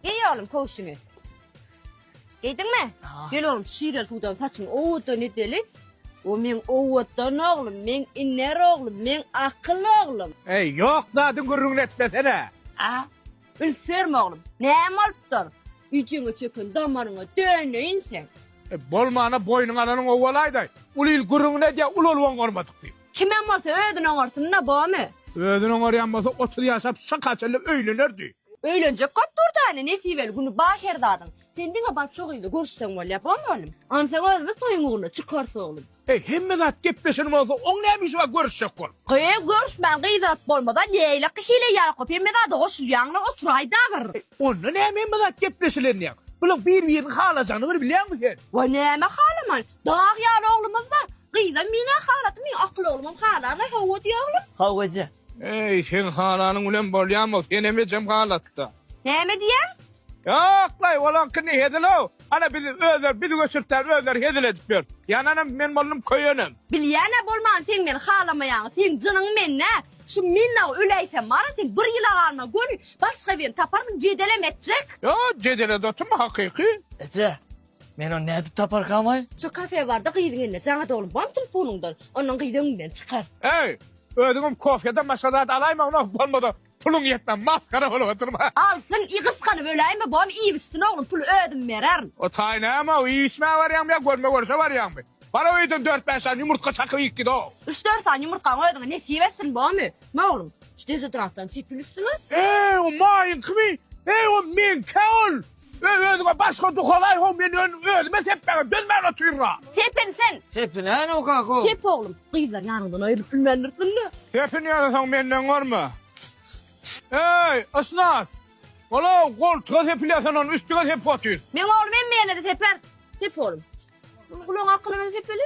Geý oglum köwşüňi. Geýdiňmi? Gel oglum şirel suwdan saçyň owutdan edeli. O meň owutdan oglum, meň iner oglum, meň akyl oglum. Eý, ýok zadyň gürrüňini etmesene. A, ülserme oglum. Näme bolupdyr? Üjeňe çöken damaryňa döneýin sen. E, bolmana boýnuňa alanyň owalaýda. Uly il gürrüňini edýär, ul-olwan gormadyk diýip. Kimem bolsa özün oňarsin da bomy. Özün oňaryan bolsa otuz yaşap şaka çenli öylenerdi. Öylenjek kop durda ene nesibeli güni bar her zadyn sen diňe bar şo gyzy görüşsen bolya bomy olim. Onsoň özümiz toyuň ugruna çykarys oglim. Eý hemme zat gepleşen bolsa oň näme işi bar görüşjek bol. Gyz görüşmän gyz alyp bolmada leylak hile ýakup hemme zada goşulýaňlar oturaýda bir. Onda näme hemme zat gepleşilen diýaň. Bulaň bir birini halajanyny bir bilýäňmi sen. Wa näme halaman Dag ýaly oglumyz bar. Gyzam mine halatym mine akyl oglumam halana hawa diýe oglum. Haw eje. Eý seň halanyň bilen bolýamy senem ejem halatda. Näme diýýäň? Ýoklaý olaňkyny hezilow hany biz özler biz göçürtýän özleri hezil edip ýör. Ýananam men boldum köýenem. Bilýänä bolman seň meni halamaýaňy seň jynyň mende şu minnaw öläýsem bara sen bir ýyla galma göni başga birini taparsyň jedelem etjek. Ýok jedelede oturma hakyky. Eje. Men ony nädip taparkamaý? Şu kafe barda gyzyň eline jaňa dolup bam tulpunyňdan, ondan gyz öňüňden çykar. Eý, özüňem kofýadan başga zat alaýma ona, bolmasa puluň ýetmän masgara bolup oturma. Alsyn, iý gysganyp öläýme, bam iýibçsin oglum, puly özüm bererin. O taý näme-ow, iýişmäge barýaňmy ýa görme-görşe barýaňmy? Bar-ow öýden dört-bäş sany ýumurtga çakyp iýip git-ow. Üç-dört sany ýumurtgaňy özüňe nesip etsin, bam öý. Hä, oglum, şu dezodorantdan sepil üstüňe. Eý, o maýyňkymy? Eý, o meňkä ol? Öý özüňe başga duha gaý ho men öň özüme sepmäge dözmän otyrra. Sepin sen. Sepinäno kako. Sep oglum. Gyzlar ýanyňdan aýrylyp bilmändirsiňle. Sepin ýasasaň menden görme. Eý, Ysnat. Olaw goltuga sepilýär sen ony üstüňe sepip otyr. Meň oglum hemmeýene-de seper. Sep oglum. Muny gulagyň arkalarynada sepeli.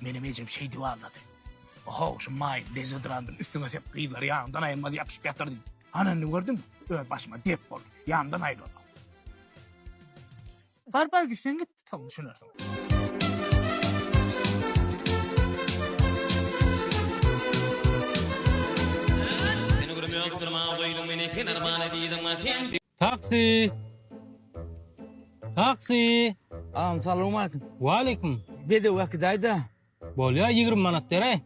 Menem ejem şeýdip aldady. Ohow, şu maýyl dezodrandym üstüňe sepip gyzlar ýanymdan aýrylmaz ýapyşyp ýatyrdy. Ana indi gördüňmi? Öz başyma dert boldy. Ýanymdan aýrylma. Bar bar gitseň git, soň düşünersiň. Seni görüp ýokup durma, goýduň meni kenarmana diýdiň, sen. Taksi! Taksi! Agam salowmalikim. Waleýkim. Bedew äkidaýda. Bolýa ýigrimi manat beräý.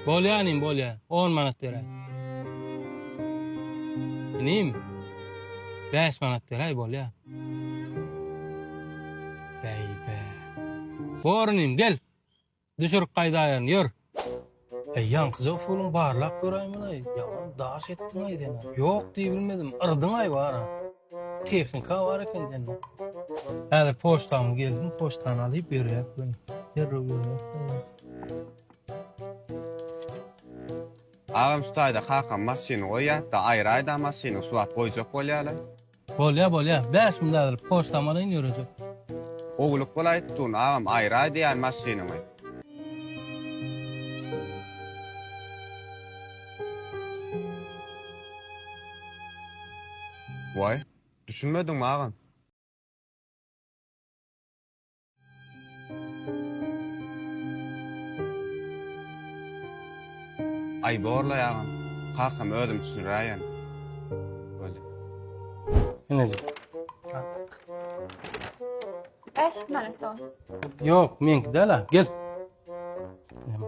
Bolýa inim bolýa on manat beräý. Inim bäş manat beräý bolýa. Bäý bä. Bor inim gel. Düşürip gaýdaýyn, ýör! Äý, ýaňkyja usulyň barlap göräýmeli, ýaman daş etdiň-aý sen-ä. Ýok diýbilmedim, yrdyň-aý bar-a. Tehnika bar eken sende. Häzir poçtamy gelsin, poçtany alyp ýörýäs welin, derrew ýörýäs-de. Agam şu taýda kakam maşyny goýýar-da, aýraýda maşyny, şu wagt goýjak bolýar-a. Bolýa bolýa bäş müň bäberip poçtam alaýyn ýörejek. Gowulyk bolaý tutun agam aýraý diýýän maşynyňy. Waý, düşünmediňmi agam? Aý borlaý agam. Kakam özüm düşüniräýen. Bolýa. Enejik. Bäş manat ol. Ýok, meňki däl-a. Gel. Näme?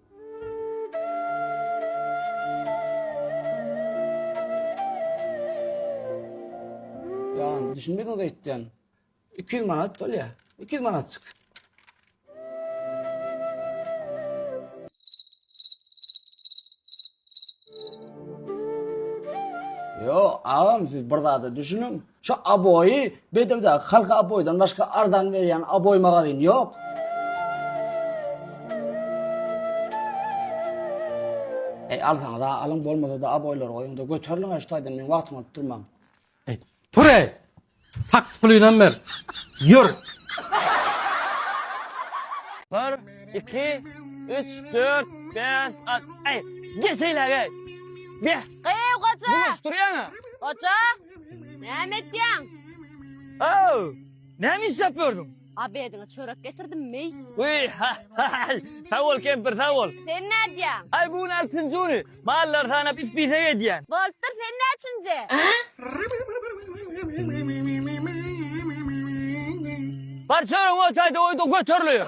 Ýan düşünmediňiz aýtýan. 200 manat bolýa. 200 manatçyk. Yo, agam siz bir zada düşünün. Şu aboýy bedewdäki halka aboýdan başga arzan berýän aboý magazyn ýok. Eý alsaňyza alyň bolmasa-da aboýlary goýuň-da göteriliň-ä şu taýdan meň wagtymy alyp durmaň. Eý tur-eý! Taksi pulynam ber. Ýör! Bir, iki, üç, dört, bäş, alt, eý! Geseýläge! Beh! Gyýw goja! Bulaşdyrýaň-a! Goja! Näme etýäň? Aw! Näme iş ýapýardyň? Abediňe çörek getirdim, meý. Uý, ha, ha, ha, sag bol kempir, sag bol. Sen nädýäň? Aý, bu gün altynjy güni, mallary sanap ispisek edýän. Bolupdyr, sen näçinji? Bar çöregiňi otaý-da goý-da göteriliýär.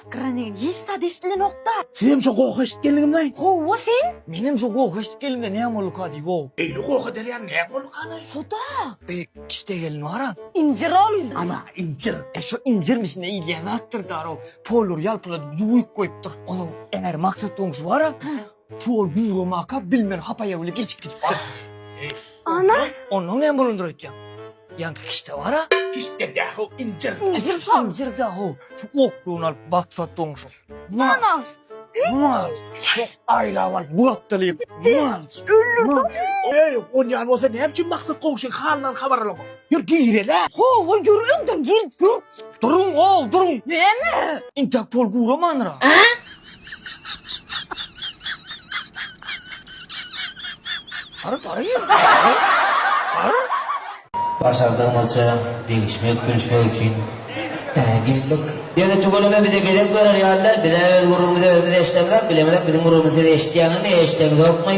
Granenista dişli nokta. Senem şo goh eşit geldiňmi laý. Howwa sen? Menem şo goh eşit geldim-de näme bolduka diý wow. Eýle goh ederýäň näme bolduka laý. Şoda. Eý kişde gelin bara. Injir ol. Ana injir. E şo injirmi içinde iýilýän zatdyr daro. Polary ýalpyladyp ýuwyp goýupdyr. Onuň emer maksat goňşy bara. Puh ol güýgemaka bilmeli hapa ýaly geçip gidipdir. Ana! Ondan näme bolandyr öýtýäň? Ýaňky kişde bar-a? Kişde däl-ow, injir. Injir şol. Injir däl-ow. Şu oklugyny alyp batsa doňşup. Malc! Malc! Heh, aýlap alyp bapdalyp. Malc! Öldürdi. Eý, on ýaly bolsa näme üçin Maksat goňşyň halyndan habar alamok? Ýör girel-ä! Hawa, ýör öňden girip dur. Duruň-ow, duruň! Näme? Intäk pol guramandyr-a? Başardygyňyzça degişmek, gülüşmek üçin geldik. Ýöne tüweleme bize gezek berer ýalylar, bizä öz gürrüňimizi özümiz eşidemzok, biziň gürrüňimizi siz eşitýäňizmi, eşideňzokmy?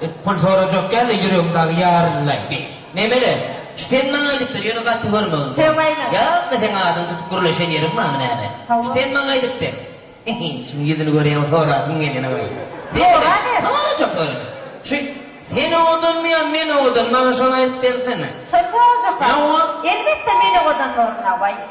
Dep pul sorajak ýaly ýüregim dagy ýaryldaýdy. Memele, şu sen maňa aýdypdyr, ýöne gaty görmegim bar. Söweýmez. Ýa-da seň adyňy tutup gürleşen ýerim barmy näme? Hawa. Şu sen maňa aýdypdyr. Hehe, şunuň ýüzüni görýäňok, sorasym gelýän awaý. Sora berk. Sorajak, sorajak. Şu sen owadanmy ýa men owadan, maňa şony aýdyp bersene. Şony sorajak wagt. Hawa. Elbetde men owadan bolun awaý.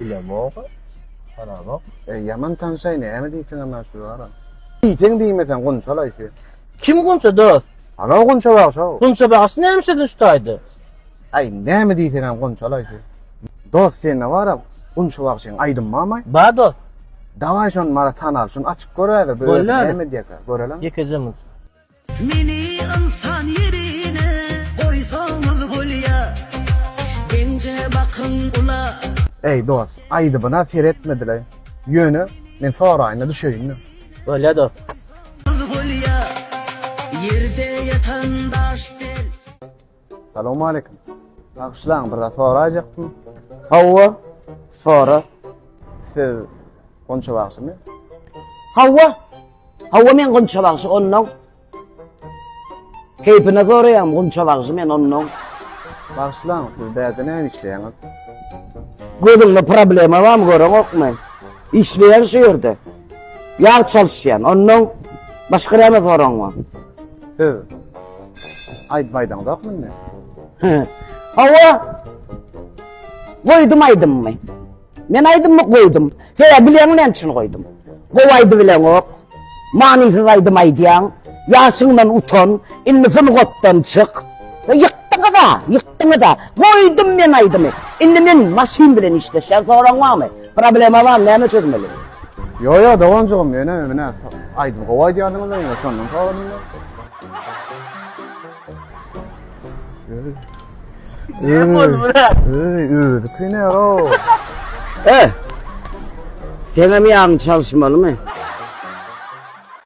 Bilemok. Haramok. E, ýaman tanşaý näme diýseň hem şu ýara. Diýseň diýmeseň gunçalaý şu. Kim gunça dost? Ana gunça bagşa. Gunça bagşy näme şedin şu taýda? Aý näme diýseň hem gunçalaý şu. Dost sende bara gunça bagşyň aýdym barmy? Ba dost. Dawaý şony mara tanal şuny açyp göräýler. Görelim. Näme diýýär? Görelim. Ýekeje mut. Meni ynsan ýerine goýsaňyz bolýa, Genje bakyň ula. Eý dost aýdybyna seretmedile ýöne men soraýyna düşeýinmi. Bolýa dost. Bolýa, ýerde ýatan daş del. Salam aleýkum. Bagşylaň bir zat sorajakdym. Hawa, sora. Siz Gonça bagşymy? Hawa. Hawa men Gonça bagşy ondan. Keýpine soraýam Gonça bagşy men ondan. Bagşylaň siz bäde näme işleýäňiz? Gözüňde problema barmy göreňokmy? Işleýän şu ýerde. Ýag çalyşýan. Ondan başga näme soragyň bar? Siz aýdyp aýdaňzok münde? Hawa. Goýdum aýdymy. Men aýdymy goýdum. Sebäbi bilýäňmi näme üçin goýdum? Gowy aýdyp bileňok. Manysyz aýdym aýdýaň. Ýaşyňdan utan. Indi sungatdan çyk. Ýykdyňyz-a, ýykdyňyz-a. Goýdum men aýdymy. Indi men maşyn bilen işleşýän. Soragyň barmy? Problema bar näme çözmeli. Ýo ýo doganjygym ýöne menä aýdym gowy aýdýadyňyz da ýöne şondan soradym da. Seňem ýagyň çalyşmalymy?